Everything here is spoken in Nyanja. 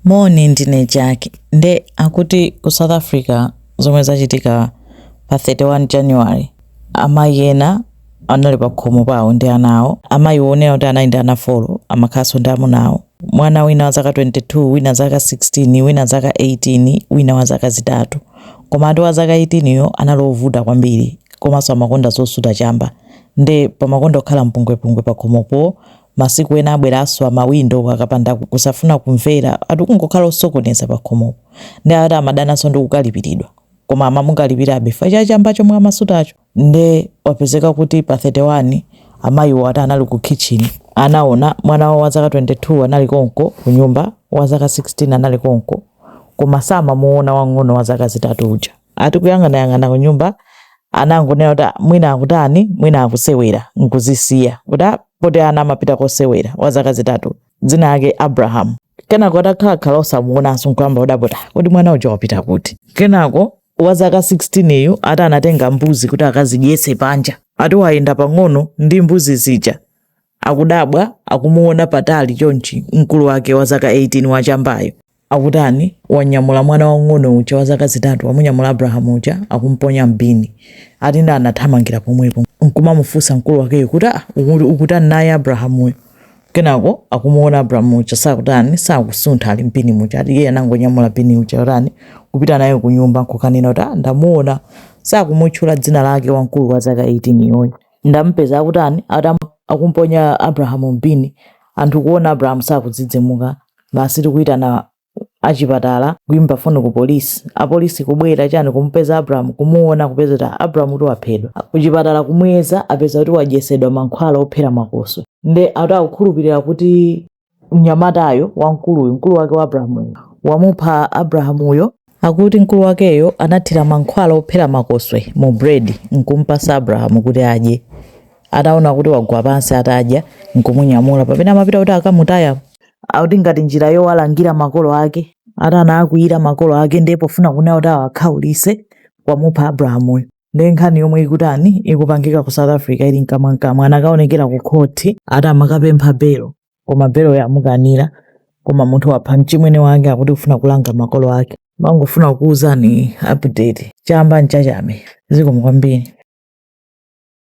Moni ndine Jack nde akuti ku South Africa zomwe zachitika pa 31 January amayi ena anali pakhomo pawo ndi ana awo. Amayiwo kunena kuti anali ndi ana folo amakhalanso ndi amuna awo. Mwana wina wa zaka 22, wina zaka 16, wina zaka 18, wina wa zaka zitatu. Komatu wa zaka 18 yo anali wovuta kwambiri komanso amakonda zosuta chamba nde pamakonda kukhala mpungwepungwe pakhomopo Masiku ena abwera aswa ma window akapanda kusafuna kumvera ati kungokhala osokoneza pakhomopo nde ati amadananso ndi kukalipiridwa koma amamukalipirabe chifukwa cha chamba chomwe amasutacho nde wapezeka kuti pa 31 amayiwo ati anali ku kitchen anaona mwana wawo wa zaka 22 anali konko kunyumba, wa zaka 16 anali konko koma samamuona wang'ono wa zaka zitatu uja. ati kuyang'anayang'ana kunyumba anangonena kuti "Ah, mwina akutani mwina akusewera nkuzisiya kuti "Ah, poti ana amapita kosewera wa zaka zitatu dzina lake abrahamu kenako atakhalakhala osamuonanso nkuyamba kudabwa kuti mwana uja wapita kuti kenako wa zaka 16 yu ati anatenga mbuzi kuti akazidyetse panja ati wayenda pang'ono ndi mbuzi zija akudabwa akumuona patali chonchi mkulu wake wa zaka 18 wa chambayo akutani wanyamula mwana wang'ono uja wa zaka zitatu wamunyamula abrahamu uja akumponya mbini ati nda anathamangira pomwepo nkumamufunsa mkulu wakeyo kuti ah, ukutani naye abrahamuyo kenako akumuona abrahamu uja sakutani sakusuntha ali mbini muja ati iye anangonyamula bini uja kutani kupita naye kunyumba nkukanena kuti ah, ndamuona sakumutchula dzina lake wamkulu wa zaka 18 yoyo ndamupeza akutani atam akumponya abrahamu mbini anthu kuona abrahamu sakudzidzimuka basi ati kuyitana achipatala kuyimba foni ku polisi apolisi kubwera chani kumupeza abrahamu kumuona kupeza kuti abrahamu kuti waphedwa kuchipatala kumuyeza apeza kuti wadyesedwa mankhwala ophera makoswe nde ati akukhulupirira kuti mnyamatayo wamkuluyu mkulu wake wa abrahamuyo wamupha abrahamuyo akuti mkulu wakeyo anathira mankhwala ophera makoswe mu bredi nkumpasa abrahamu kuti adye ataona kuti wagwa pansi atadya nkumunyamula pamene amapita kuti akamutaye akuti ngati njira yowalangira makolo ake ati anaakwiyira makolo ake ndiye pofuna kunena kuti awakhaulise wamupha abrahamuyo nde nkhani yomwe ikutani ikupangika ku south africa ili mkamwamkamwa anakaonekera ku khoti ati amakapempha belo koma beloyo amukanira koma munthu wapha mchimwene wake akuti kufuna kulanga makolo ake mangofuna kukuwuzani update chamba ncha achame zikomo kwambiri